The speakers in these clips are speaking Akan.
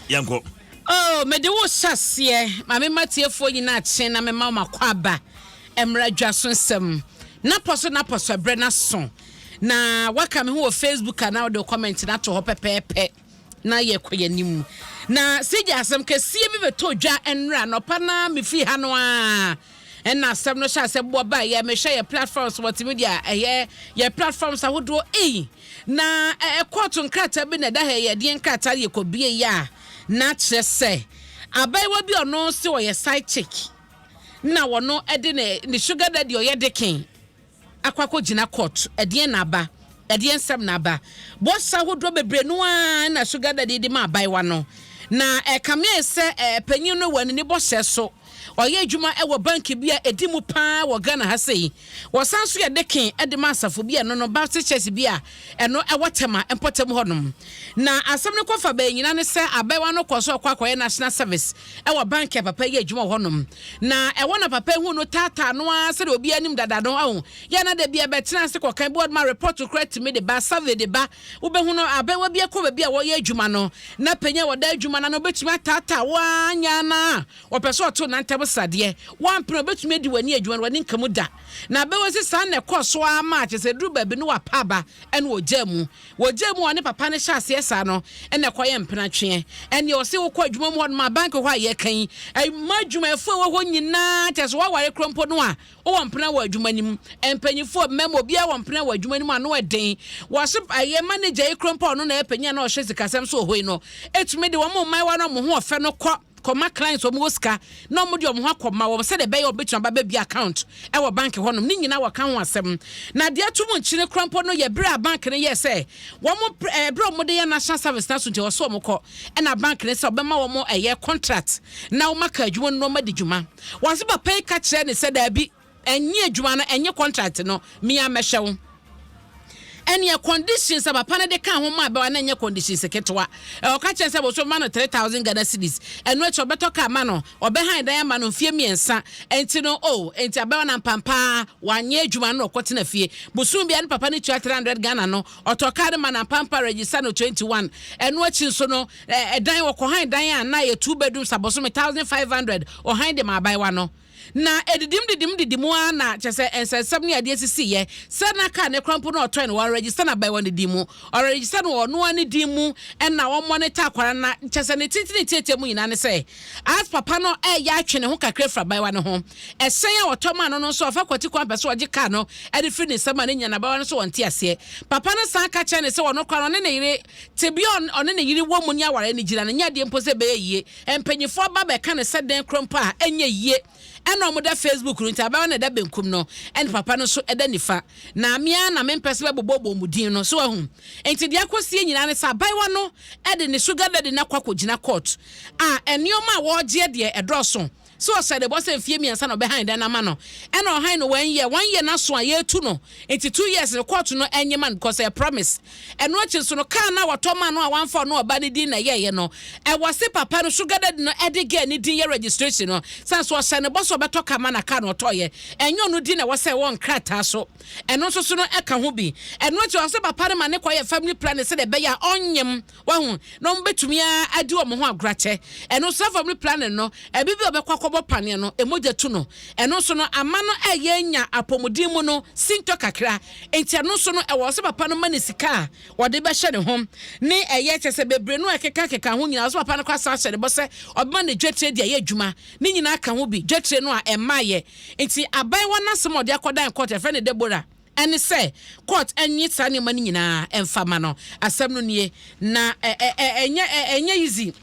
yɛnkɔ oh mede wo hyɛ aseɛ ma mema tiefoɔ nyinaa kye na mema wɔn akɔ aba mmara dwa so nsɛm napɔ so napɔ so ɛberɛ n'aso na waka me ho wɔ facebook anaa wode comment no ato hɔ pɛpɛɛpɛ na yɛkɔ yɛn anim na sigya asɛm kɛseɛ bi bɛtɔ dwa nnora nɔpa na mefiri ha no a Ɛna asɛm no hyɛ asɛm boɔ baa yɛ mehwɛ yɛ platforms multimedia ɛyɛ yɛ platforms ahodoɔ ei na ɛɛ kɔɔto nkrataa bi na ɛda ha yɛ deɛ nkrataa yɛ kɔ bie yɛ a na kyerɛ sɛ abaayewa bi ɔno sɛ ɔyɛ side chick na wɔno ɛde ne ne sugar daddy ɔyɛ deken akɔ akɔgyina court ɛdeɛn na aba ɛdeɛn nsɛm na aba boss ahodoɔ bebree no ara na sugar daddy de ma abaayewa no na ɛkame sɛ ɛɛ panyin no wɔ ne bɔhyɛ so ɔyɛ adwuma ɛwɔ bank bi a ɛdi mu paa wɔ Ghana ha sei wɔsan so yɛ deken ɛde ma asafo bi a ɛno no Baptist church bi a ɛno wɔ Tema mpɔtam hɔnom. Na asɛm no kɔfa bɛn nyinaa ne sɛ abaayewa no kɔɔ so kɔ akɔyɛ National Service wɔ bank a papa yi adwuma wɔ hɔnom. Na ɛwɔ na papa yi hu no taataa no ara sɛdeɛ obiara anim dada no ahu. Yɛ na da bi ɛbɛtena ase kɔkan board ma report koraa tumi de ba, survey de ba. Wobɛhu no abaayewa bi akɔ baabi a wɔyɛ adwuma no na panyin a wɔda adwuma no ano bɛtumi ataataa wo ara nyɛ ara no a ɔpɛ sɛ ɔto nantam sradeɛ. Woampene a ɔbɛtumi adi w'ani adwuma no w'ani nka mu da. na bɛwɔ si saa na ɛkɔɔ so ara maa kyerɛ sɛ ɛduru baabi no wapa aba ɛna ɔgyaa mu. Wɔgyaa mu a ɔne papa no hyɛ aseɛ saa no ɛna ɛkɔyɛ mpenatweɛ. Ɛnneɛ ɔse wokɔ adwuma mu hɔnom a bank hɔ a yɛka yi ɛma adwumayɛfoɔ ɛwɔ hɔ nyinaa kyerɛ sɛ woaware korɔ mpo no a wowɔ mpena wɔ adwuma no mu. Mpanimfoɔ mmarima obiara wɔ mpena wɔ adwuma no mu ano ɛden. Wɔse ɛyɛ manager yi korɔ mpo a ɔno na ɛyɛ panin a na ɔhwɛ sikasɛm so wɔ hɔ yi no ɛtumi de wɔn mmaayewa no a wɔn ho ɔfɛ no kɔ kɔma clients wɔn wɔ sika na wɔn de wɔn ho akɔma wɔn sɛdeɛ ɛbɛyɛ wɔbɛtumi aba bɛbi account ɛwɔ bank hɔnom ne nyinaa wɔka ho asɛm na deɛ ɛto mu nkyene kora mpo no yɛ berɛ a bank no yɛ sɛ wɔn ɛɛ berɛ a wɔde yɛ national service na so nti wɔsɔ wɔn kɔ ɛna bank no sɛ wɔbɛma wɔn ɛyɛ contract na wɔn aka adwuma no na wɔn adi dwuma wɔn ase papa yi ka kyerɛ ne sɛ daabi Ɛnye adwuma no ɛnye contract no mea mɛhwɛ wo ɛneɛ conditions a papa no de ka ho maa bɛwa no ɛnyɛ conditions ketewa ɔka kyerɛ sɛ boso ma no 3000 Ghana cedis ɛno akyi ɔbɛtɔ kaa ma no ɔbɛhan dan ama no mfie mmiɛnsa ɛnti no o oh, ɛnti abɛwa no ampampaa wanyɛ adwuma no ɔkɔ tena fie bosom bia no papa no tua 300 Ghana no ɔtɔ kaa no ma no ampampaa register no 21 ɛno akyi nso no ɛdan wɔkɔhan dan a na yɛ two bedrooms abɔso me 1500 ɔhan de ma abɛwa no Na edidim didim didim ara na kyerɛ sɛ nsɛnsɛm ne adeɛ sisiiɛ. Sɛ na kaa no kora mpo na ɔtɔn no, wɔregister no aban wɔ ne din mu. Wɔregister no wɔ ɔno ara ne din mu na wɔmonitor akwadaa no na kyerɛ sɛ ne tenten ne tiatia mu nyinaa ne sɛ as papa no reyɛ atwe ne ho kakra afiri abaayewa no ho. Ɛhyɛn a wɔtɔ maa no no nso ɔfa kwati kwan pɛ sɛ ɔgye kaa no de firi ne nsam a ne nyinaa no abaayewa no nso wɔ nteaseɛ. Papa no san ka kyerɛ no sɛ ɔno koraa no ɔne ne yere, tebea a ɔne ne yere wɔ mu ne aware no gyina no nyɛ adeɛ mpo sɛ ɛbɛyɛ yie Mpanyimfoɔ ba bɛka no sɛ dɛn korɔ mpo a, ɛnyɛ yie. Ɛna wɔda Facebook no nti, abaayewa no da benkum no, ɛna papa no nso da nifa. Na me ara na mempɛ sɛ wɔbobɔbobɔ wɔn din no. So woahu? Enti deɛ akɔsie nyinaa ne sɛ abaayewa no de ne sugar daddy no akɔ akɔgyina kɔɔto a nneɛma a wɔregyeɛ deɛ ɛdɔɔso. So ɔhyɛ ne bɔ sɛ mfie mmiɛnsa na ɔbɛhan dan no ama no ɛna ɔhan no one year one year no aso a yɛretu no nti two years no court no ɛnye ma no because ɛyɛ promise ɛno akyi nso no car no a wɔtɔ maa no a wamfa ɔno ɔbaa no din na ɛyɛɛyɛ no ɛwɔ se papa no sugar daddy no ɛde girl no din yɛ registration no sane so ɔhyɛ ne bɔ sɛ ɔbɛtɔ car ma na car no ɔtɔɔyɛ ɛnyɛ ɔno din na ɛwɔ sɛ ɛwɔ nkrataa so ɛno nso so no ɛka ho bi ɛno akyi ɔse papa no ma ne kɔ yɛ family planning sɛdeɛ ɛbɛyɛ a ɔnyem Wahu? Na wɔbɛtumi ara adi wɔn ho agorɔ akyɛ. Ɛno nso, afɔm no planning no, ɛbi bi a ɔbɛkɔ akɔbɔ paneɛ no, mogya tu no. Ɛno nso no, ama no ɛyɛ anya apɔmuden mu no sintɔ kakra. Nti ɛno nso no, ɛwɔ sɛ papa no ma no sika a ɔde bɛhyɛ ne ho, ne ɛyɛ, kyerɛ sɛ bebree no a ɛkekankeka ho nyinaa. Ɛwɔ sɛ papa no koraa san hyɛ ne bɔ sɛ ɔbɛma no dwatire de ayɛ adwuma. Ne nyinaa ka ho bi, dwatire no a ɛmmaeɛ. Nti aban hɔ no asɛm a ɔde akɔdan court, yɛfrɛ no Deborah. Ɛne sɛ court nye saa nneɛma no nyinaa ɛmfa mma no. Asɛm no nie. Na ɛ ɛ ɛ ɛnyɛ ɛ ɛnyɛ easy.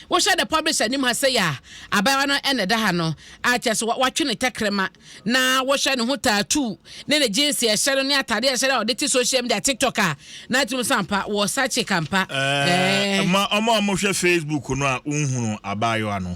Wohwɛ the publisher anim ha sɛi a, abaayewa no na ɛda ha no a kyerɛ sɛ wa watwe ne tɛkrɛma na wohwɛ ne ho tattoo ne ne jeans a ɛhyɛ no ne ataadeɛ a ɛhyɛ no a ɔde te social media TikTok a na akyerɛ mu sɛ ampa wɔ saa chick ampa. Ɛɛ. Ma wɔn a wɔhwɛ Facebook no a wonhunu abaayewa no.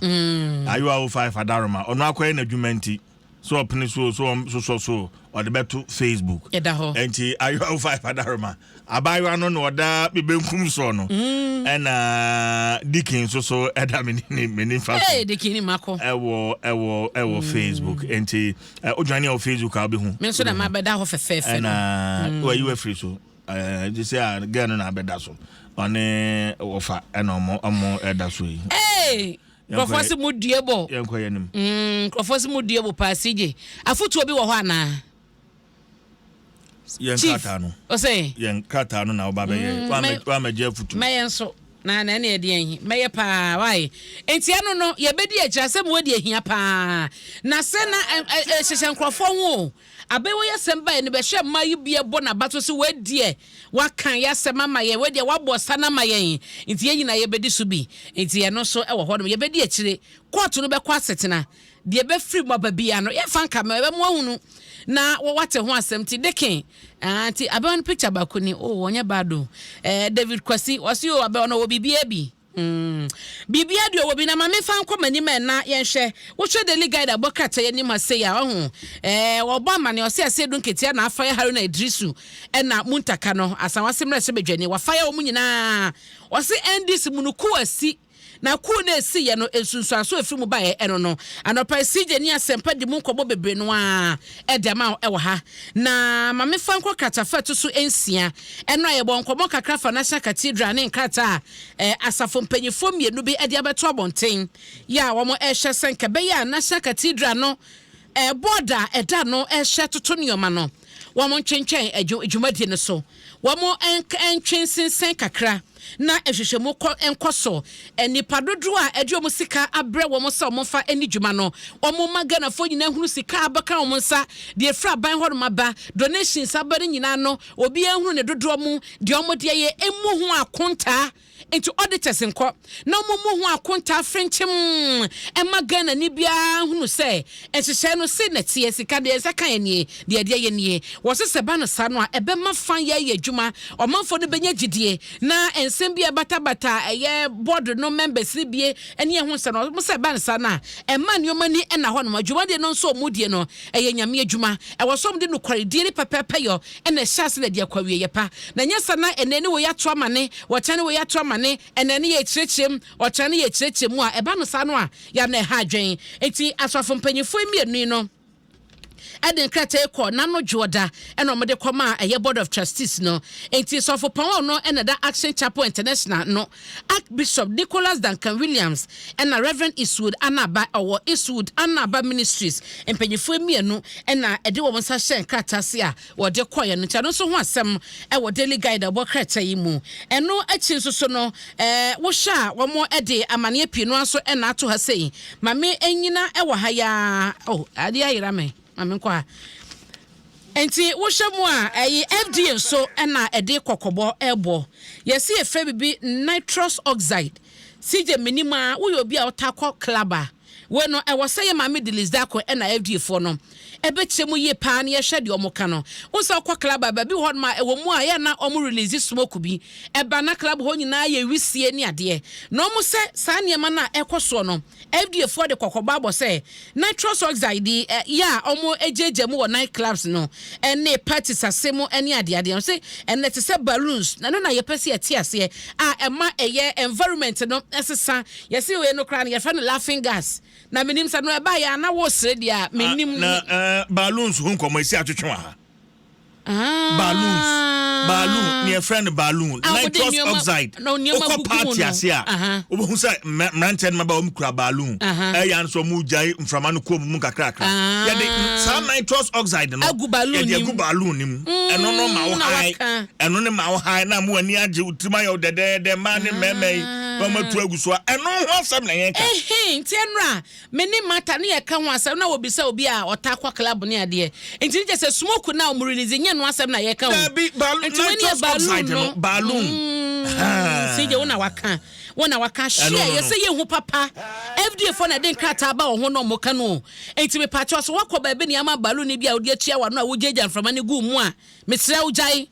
Ayewa 05 Adaroma. Ɔno akɔyɛ n'adwuma nti. So ɔpene so o, so ɔsosɔ so o, ɔde bɛto Facebook. Ɛda hɔ. Nti ayewa wo five adaroma. Abaayewa no na ɔda me benkum soɔ no. Mm. Ɛna Dikin nso so ɛda me ne me nifa so. Hey, Dikin ni mako. Ɛwɔ ɛwɔ ɛwɔ mm. Facebook. Nti odwane ɛwɔ Facebook a ɔbɛhu. Me nso na ma bɛda hɔ fɛfɛɛfɛ no. Ɛna wɔyi wafiri so. Ɛɛ sɛ a gɛn no na abɛda so. Ɔne wɔfa ɛna ɔmo ɔmo ɛda so yi. Hey. Nkurɔfoɔ se mo due bo. Yɛnkɔ yɛanim. Mm, nkurɔfoɔ se mo due bo paa CJ. Afotuo bi wɔ hɔ anaa? Yɛn Chief, krataa no. Ɔsɛ. Yɛn krataa no na woba bɛyɛ. Mm, Woamɛgye afotuo. Mɛyɛ nso. Na na ɛne ɛdeɛn yi. Mɛyɛ paa, wae. Enti ɛno no, yɛbɛdi akyiri asɛm wɔ deɛ ɛhia paa. Na sɛ na ɛhyehyɛ nkurɔfoɔ ho o. Aber wei asɛm bae no, bɛhwɛ mma yi bi bɔ n'abato se, Wei deɛ waka y'asɛm ama yɛn, wei deɛ wabɔ ɔsa no ama yɛn, nti yɛn nyinaa yɛbɛdi so bi. Nti ɛno nso wɔ hɔnom. Yɛbɛdi akyire. Kɔɔto no bɛkɔ asetena. Deɛ ɛbɛfiri mu aba biara no, yɛmfa nka mɛ, ɛbɛma wahunu na wate ho asɛm. Nti Deke, ah, nti abɛwa no picture baako ni. Oh, ɔnyɛ bad o. Eh, David Kwasi, ɔse o, abɛwa no ɔwɔ biribiara bi. Mm. Biribiara deɛ ɔwɔ bi na ma mefa nkɔ m'anim ɛ na yɛnhwɛ. Wohwɛ Daily Guide a ɛbɔ krataa yi anim ha sei a, ɔho ɛɛ wɔbɔ amane ɔse ase edu nketea na afaya Haruna Idrisu ɛna Muntaka no asan wase mmarahyɛ badwani wafaya wɔn nyinaa. Ɔse NDC mu no kuo asi na kuo no a esiiɛ no nsunsuanso a efiri mu baeɛ ɛno no anɔpa yi CJ ne Asɛmpa di mu nkɔmmɔ bebree no ara ɛde ama wo ɛwɔ ha. Na ma mefa nkɔ kratafa ɛto so nsia ɛno a yɛbɔɔ nkɔmmɔ kakra fa National Cathedral ne nkrataa a asafo mpanimfoɔ mmienu bi de abɛto abɔnten yɛ a wɔrehwɛ sɛ nka ɛbɛyɛ a National Cathedral no board a ɛda no hyɛ toto nneɛma no wɔn ntwentwɛn dwumadie no so wɔn ntwe nsensɛn kakra na nhwehwɛmu kɔ nkɔ so nnipa dodoɔ a ɛde wɔn sika abrɛ wɔn sɛ wɔn fa ani dwuma no wɔn ma Ghanafoɔ nyinaa hunu sika a abɛka wɔn nsa deɛ efiri aban hɔ nom aba donations aba no nyinaa no Obiara nhunu ne dodoɔ mu deɛ wɔn deɛ yɛ mmu ho akontaa nti auditors nkɔ na wɔn mmu ho akontaa frenkyem mma Ghanani biara nhunu sɛ nhyehyɛe no sei na ɛteɛ, sika deɛ yɛn nsa kaeɛ nie, deɛ ɛdeɛ yɛ nie. Wɔse sɛ ɛba no saa no a ɛbɛma fa yɛ ayɛ adwuma, ɔmanfoɔ no bɛnya gyidie na nsɛm bi a ɛbatabata a ɛyɛ board no members no bie ne ɛho nsɛm no wɔse sɛ ɛba no saa no a ɛma nneɛma ani nna hɔnom. Dwumadie no nso a wɔdie no Ɛyɛ Nyame adwuma. Ɛwɔ sɛ wɔde nokwaredie ne pɛpɛɛpɛyɔ na ɛhyɛ ase na ɛde akɔ awieɛ pa. Na ɛnyɛ saa na ɛnɛ ne wei ato amane, ɔkyena ne wei ato amane, ɛnɛ ne yɛrekyerɛkyerɛ mu, ɔkyena ne yɛrekyerɛkyerɛ mu a, ɛba no saa no a, ya na ɛha adwene. Enti asɔfo mpanimfoɔ yi mmienu yi no de nkrataa yi kɔɔ Nano Dwoɔda na wɔde kɔmaa ɛyɛ Board of Trustees no. Enti Sɔfopɔn no na ɛda Action Chapel International no Archbishop Nicholas Duncan Williams ɛna Rev. Eastwood Anaba ɔwɔ Eastwood Anaba Ministries mpanyinfoɔ mmienu ɛna ɛde wɔn nsa hyɛɛ nkrataa ase a wɔde kɔeɛ no nti ɛno nso ho asɛm ɛwɔ Daily Guide a ɛbɔ krataa yi mu. Ɛno akyi nso so no ɛɛ wohwɛ a wɔn ɛde amaneɛ pii no ara nso ɛna ato ha sei. Mame ɛnyina ɛwɔ ha yi ara oh adeɛ ayera me. Ma menkɔ ha. Enti wohwɛ mu a, ɛye FDA nso na ɛde kɔkɔbɔ rebɔ. Yɛse yɛfrɛ biribi nitrous oxide. CJ menim a, woyɛ obi a wotaa kɔ club a, wei no ɛwɔ sɛ yɛ maame Deliz Darko na FDA foɔ no ɛbɛkyerɛ mu yie paa na yɛhwɛ deɛ wɔn ka no. Wohu sɛ wokɔ club a, baabi wɔ hɔ nom a ɛwɔ mu a yɛ a na wɔn release smoke bi ɛba na club hɔ nyinaa yɛ wisie ne adeɛ. Na wɔn sɛ saa nneɛma no a ɛkɔ soɔ no, FDA foɔ de kɔkɔbɔ abɔ sɛ nitrous oxide yi ɛ yɛ a ɔmo ɛgyaagya mu wɔ night clubs no ɛne parties ase mo ɛne adeadeɛ ɔse ɛnɛ te sɛ balloons na ɛno na yɛpɛ sɛ yɛte aseɛ a ɛma ɛyɛ environment no ɛsesa yɛse wei no koraa no yɛfrɛ no laughing gas na menim sɛ no ɛbaeɛ a na wosere deɛ a menim. Na ɛɛ balloons ho nkɔmɔ ɛsi atwetwe wɔ ha balloons balloon ah. neɛ ɛfrɛ no balloon ah, nitrous oxide wokɔ party ase a wobɛhu sɛ mmeranteɛ no maba wɔm kura balloon ɛyɛ ano sɛ ɔmo gyae mframa no kɔɔ mu mu kakrakra ah. yɛde saa nitrous oxide no yɛde agu balloon no mu mm, ɛno no ma wo hae ɛno ne ma wo hae na mo ani agye wo tirim ayɛ wo dɛdɛɛdɛ mmaa ne mmarima yi na ɔmo atu agu so a ɛno ho asɛm na yɛka nti ɛnora Me ne Martha ne yɛka ho asɛm na wɔbisa obi a ɔtaa kɔ club ne adeɛ. Nti ne kyɛ sɛ smoke no a wɔn release nyɛ ɛno asɛm na yɛka o. Daabi, balloon, Nti wei ne yɛ nitrous balloon oxide no. no, balloon. Mm, Ahaa. CJ wo na waka. Wo na waka. Eh, no, Share, no, no. yɛsɛ yɛhu papa. FDA foɔ na ɛde nkrataa ba wɔn ho na wɔka no o. Nti mepakyɛw so woakɔ baabi na yɛama balloon no bi a wode atua w'ano a wogyaagyaa mframa no gu mu a, mesrɛ wo gyae.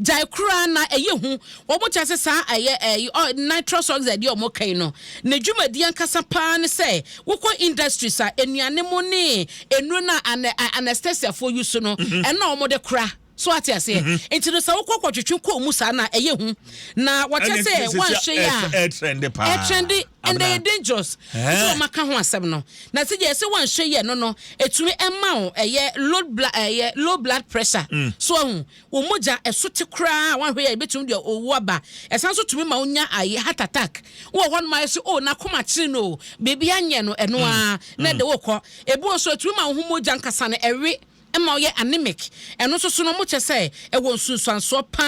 Gyae koraa na ɛyɛ hu. Wɔn kyɛ sɛ saa ɛyɛ ɛyi ɔ nitrous oxide yi a wɔn kɛn no, ne dwumadie ankasa paa ne sɛ wokɔ industries a nnuane mu ne nnuro no a anɛ anestesiafoɔ yi so no, mhm. ɛno na wɔn de kora. So ate aseɛ? Mhm. Nti no sɛ wokɔ kɔtwetwe kɔɔ mu saa na ɛyɛ hu. Na wɔkyɛ sɛ wɔanhwɛ yɛ a ɛtrɛnde paa. Ɛtrɛnde. Ɛnde ɛyɛ dangerous nti wɔn aka ho asɛm no. Na sɛ yɛ sɛ wɔanhwɛ yɛ no no ɛtumi ɛma wo ɛyɛ low blood ɛyɛ low blood pressure mm. so ahu wɔn mogya ɛso te koraa wɔanhwɛ yɛ ɛbɛtumi deɛ owu aba ɛsan so tumi ma wonya ayɛ heart attack wɔ hɔ nom ayɛ sɛ o oh, n'akoma kyerɛ no o biribi anyɛ no ɛno mm. ara na ɛde mm. wokɔ ebi wɔ so ɛtumi ma wo ho mogya nkasa no ɛwe Ɛma ɔyɛ anemic. Ɛno nso so no, wɔkyerɛ sɛ ɛwɔ nsunsuansoɔ pa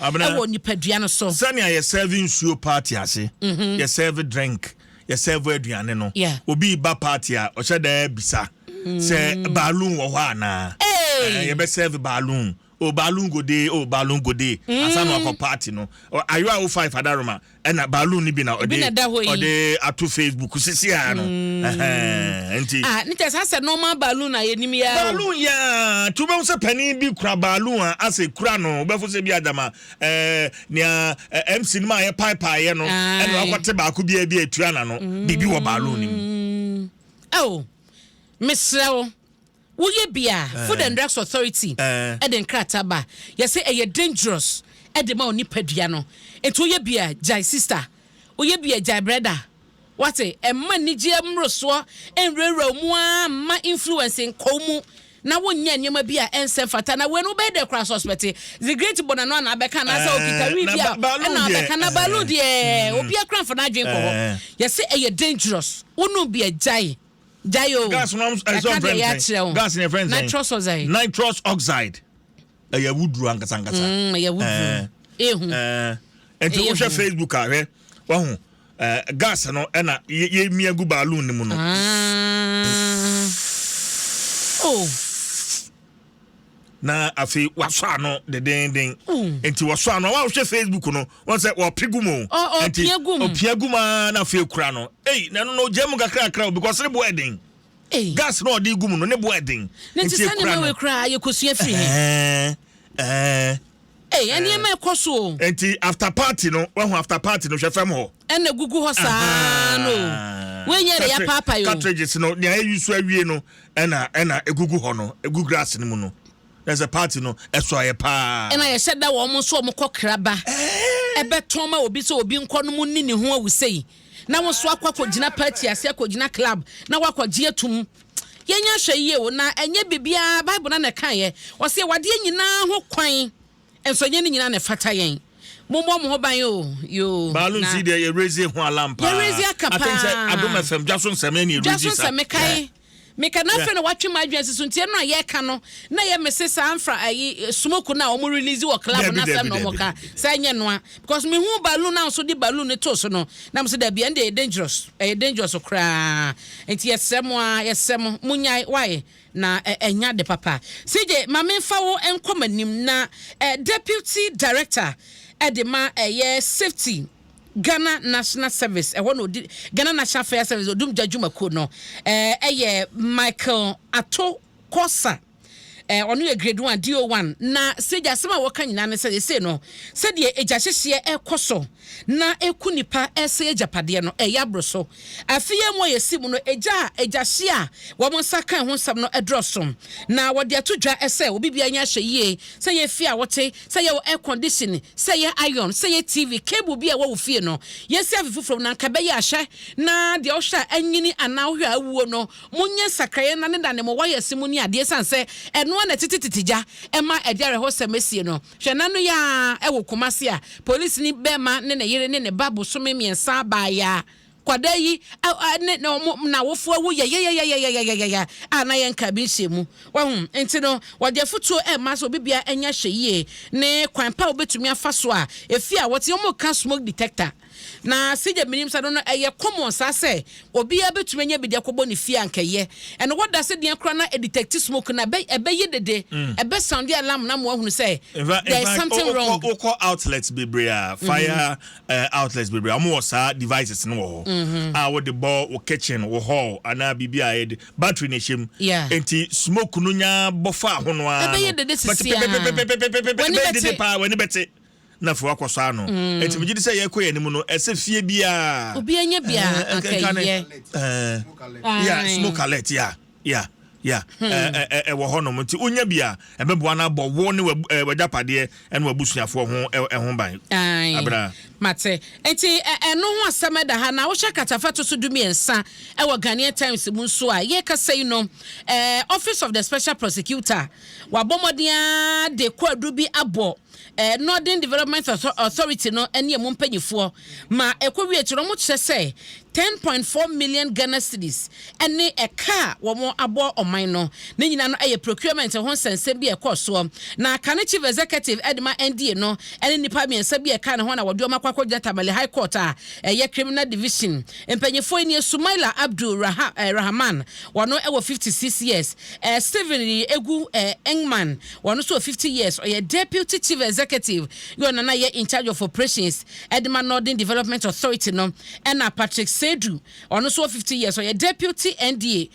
ara wɔ nipadua no so. Sɛnea yɛ sɛɛve nsuo party ase, yɛ sɛɛve drink, yɛ sɛɛve aduane no, obi reba party a, ɔhyɛ da bisa sɛ balloon wɔ hɔ anaa? Yɛbɛsɛɛve balloon. Oh balloon go dey, oh balloon go dey ansa na wakɔ party no. Ayowa o five Adaroma ɛna balloon no bi na ɔde ɔde ato Facebook sisi ara no. Ɛhɛn nti. Ah ne kyɛ saa sɛ normal balloon a yɛnim yɛ ara. Balloon yɛ ara ti wobɛhu sɛ panin bi kura balloon a asɛ kura no wobɛfo sɛ bi adama ɛɛ nea MC no ma yɛ paepae yɛ no ɛna wakɔte baako bi a bi atua na no biribi wɔ balloon no mu. Oh mesrɛ wo. Woyɛ bi a, Food and Drugs Authority de nkrataa ba. Yɛse ɛyɛ dangerous de ma wo nipadua no. Nti woyɛ bi a, gyae sister. Woyɛ bi a, gyae brɛda. Woate? Mma anigyeɛ mmorosoɔ nwurawura wo mu ara mma influence nkɔ wo mu na wonyɛ nneɛma bi a ɛnsɛ mfata. Na wei no wobɛyɛ dɛ koraa suspecte the great bɔ n'ano anaa bɛka anaasɛ okita wii bi a ɛna abɛka na baalu deɛ obiara koraa mfa n'adwene nkɔ hɔ. Yɛse ɛyɛ dangerous. Wonom bi a, gyae. gyae o gas no ɛka deɛ yɛ akyerɛ wo gas no yɛfrɛ nsɛn nitrous oxide nitrous oxide ɛyɛ awuduro ankasa ankasa mm, ɛyɛ awuduro ehu nti wohwɛ facebook a hwɛ wahu gas no ɛna yɛmia gu balloon no mu no ah. oh. na afei wasɔ ano dendeenden nti wɔsɔ ano a wɔhwɛ facebook no wɔn sɛ wɔpe gu mu nti ɔpia gu mu a na afei kura no ei na ɛno no gya mu kakrakra o because ne bo ɛden gas na ɔde gu mu no ne bo ɛden nti kura no ɛɛ ɛɛ. Ei ɛneɛma ɛkɔ so o. Enti after party no wahu after party no hwɛ fam hɔ. Ɛna gugu hɔ saa no o. Wei nyɛ de yapaapae o. Cartridges no nea ɛyi so awie no ɛna ɛna egugu hɔ no egu glass no mu no. Na sɛ party no ɛsɔ ayɛ paa. Ɛna yɛhyɛ da wɔn nso wɔn kɔ kra ba. Ɛbɛtɔn ma obi sɛ obi nkɔ nom nni ne ho awu sei. na wo nso akɔ akɔgyina party ase akɔgyina club na woakɔgye atum. Yɛnyɛ ahwɛyie o, na ɛnyɛ biribiara Bible no ara na ɛkaeɛ. Ɔse yɛwɔ adeɛ nyinaa ho kwan, nso ɛnyɛ ne nyinaa na ɛfata yɛn. Mommɔ mo ho ban o, yoo, Baalun na. Sii deɛ yɛ raise ho alarm paa. Yɛ raise aka I think sɛ paa. Adom FM dwa so nsɛm ɛne yɛ Dwa so raise sa. nsɛm mekae. Yeah. Meka no afei na watwe m'adwene asi so nti ɛno a yɛka no na yɛ me se saa mfra ayi smoke no a wɔn release wɔ club no asɛm na wɔn ka saa nyɛ noa because me hu balloon na nso de balloon no to so no na mo se dabi ɛn de ɛyɛ dangerous ɛyɛ dangerous koraa nti yɛsrɛ mo a yɛsrɛ mo mo nyae wae na ɛnya de papa CJ ma me nfa wo nkɔ m'anim na deputy director ɛde ma ɛyɛ safety Ghana National Service, ɛhɔ na ɔdi Ghana National Fire Service odumgya dwumakuo no eh, yɛ Michael Ato Korsah eh, ɔno yɛ grade one DO one na sɛgya asɛm a wɔka nyinaa ne sɛ yɛsei no sɛdeɛ agya hyehyeɛ ɛkɔ so na ɛku nipa ɛsɛ agyapadeɛ no ɛyɛ aboro so Afe yi a emu a yɛasi mu no, egya a agyahye a wɔn nsa kae ho nsɛm no dorɔ so, na wɔde ato dwa sɛ obi biara ani ahyɛ yie, sɛ ɛyɛ fie a wote, sɛ ɛyɛ wo air-condition, sɛ ɛyɛ iron, sɛ ɛyɛ TV, cable bi a ɛwɔ wo fie no, yɛasi afe foforo mu, na anka ɛbɛyɛ a, hwɛ na deɛ wohwɛ a anyini anaa wohwɛ a awuo no, monyɛ nsakraeɛ nnanedane mo wires mu ne adeɛ, ɛsiane sɛ ɛno ara na ɛtetetete gya ma ɛde awerɛhosɛm sie no. Hwɛ n'ano yi ara wɔ Kumasi a polisini barima ne ne yere ne ne ba bosome mmiɛnsa baeɛ a kwadaa yi ne ne wɔn n'awofoɔ awu yayayayayayayaya a na yɛnkaa bi nhyɛɛ mu. Wahu? Nti no, wɔde afutuo rema sɛ obi biara nyɛ ahwɛyie ne kwan pa a wobɛtumi afa so a efie a wɔte, wɔka smoke detector. Na sɛdeɛ menim sa no no ɛyɛ common saa sɛ obiara bɛtumi anya bi de akɔbɔ ne fie a nka ɛyɛ ɛno wɔda ase deɛn koraa na ɛdetɛkti smoke no a ɛbɛye dede ɛbɛ sounde alarm na amoa ahunu sɛ there is something wrong. Infact wokɔ outlets bebree a fire outlets bebree a wɔn wɔ saa devices no wɔ hɔ a wode bɔ wo kitchen wo hall anaa biribi a yɛde battery na ɛhyɛ mu nti smoke no nya bɔ faa ho no ara no ɛbɛye dede sisi a w'ani bɛte. na afei wakɔ so ano. Nti megye di sɛ yɛkɔ yɛn anim no, ɛsɛ fie biara. Obi anya bi a anka yɛ. Yeah, smoke alert, yeah, yeah. Yeah, ɛwɔ hɔ nom nti wonya bi a ɛbɛboa no abɔ wo ne w'agyapadeɛ ɛne w'abusuafoɔ ho ɛho ban. Abena. Mate. Nti ɛno ho asɛm ɛda ha na wohyɛ katafa to so du mmiɛnsa ɛwɔ Ghanaian Times mu nso a yɛkasa yi no Office of the Special Prosecutor wabɔ mmɔden de kɔ adu bi abɔ Northern Development Authority no ne emu mpanyifoɔ ma ɛkɔ wie akyire no wɔkyerɛ sɛ ten point four million Ghana cedis ne ɛka a wɔabɔ ɔman no ne nyinaa no yɛ procurement ho nsɛnsɛm bi a ɛkɔɔ soɔ na kane chief executive de ma NDA no ne nnipa mmiɛnsa bi a ɛka ne ho na wɔde wɔn akɔ akɔgyina Tamale High Court a ɛyɛ criminal division mpanyifoɔ nie Sumaila Abdul Rahman wɔn wɔ fifty six years Stephen Egu Engman Ɔno nso wɔ fifty years, ɔyɛ Deputy Chief Executive ne ɔna na yɛ Incharge of Operations de ma Northern Development Authority no. Ɛna Patrick Seidu, ɔno nso wɔ fifty years, ɔyɛ Deputy NDA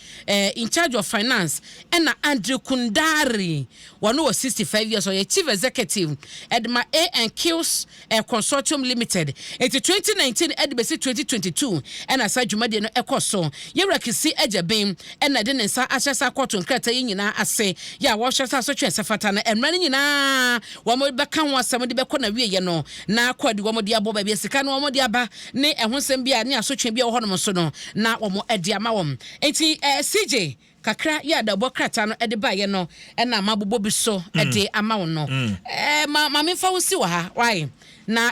Incharge of Finance. Ɛna Andre Kundari, ɔno wɔ sixty five years, ɔyɛ Chief Executive de ma A and Q's Air Consortium Limited. Enti twenty nineteen de besi twenty twenty two na saa dwumadie no kɔ so. Yɛwura Kisi Agya Ben na ɛde ne nsa ahyɛ saa kɔɔto nkrataa yi nyinaa ase. Yɛ a wɔhwɛ sɛ asotwe a ɛsɛ fata no mmra no nyinaa wɔbɛka ho asɛm de bɛkɔ n'awieɛ no na akɔ adi wɔn de abɔ baabi a sika no wɔn de aba ne ɛho nsɛm biara ne asotwe biara wɔ hɔnom nso no na wɔn de ama wɔn. Enti CJ Kakra yi a adawbɔ krataa no de baeɛ no na mabobɔ bi so de ama wo no. Ma ma memfa wo nsi wɔ ha, why? Na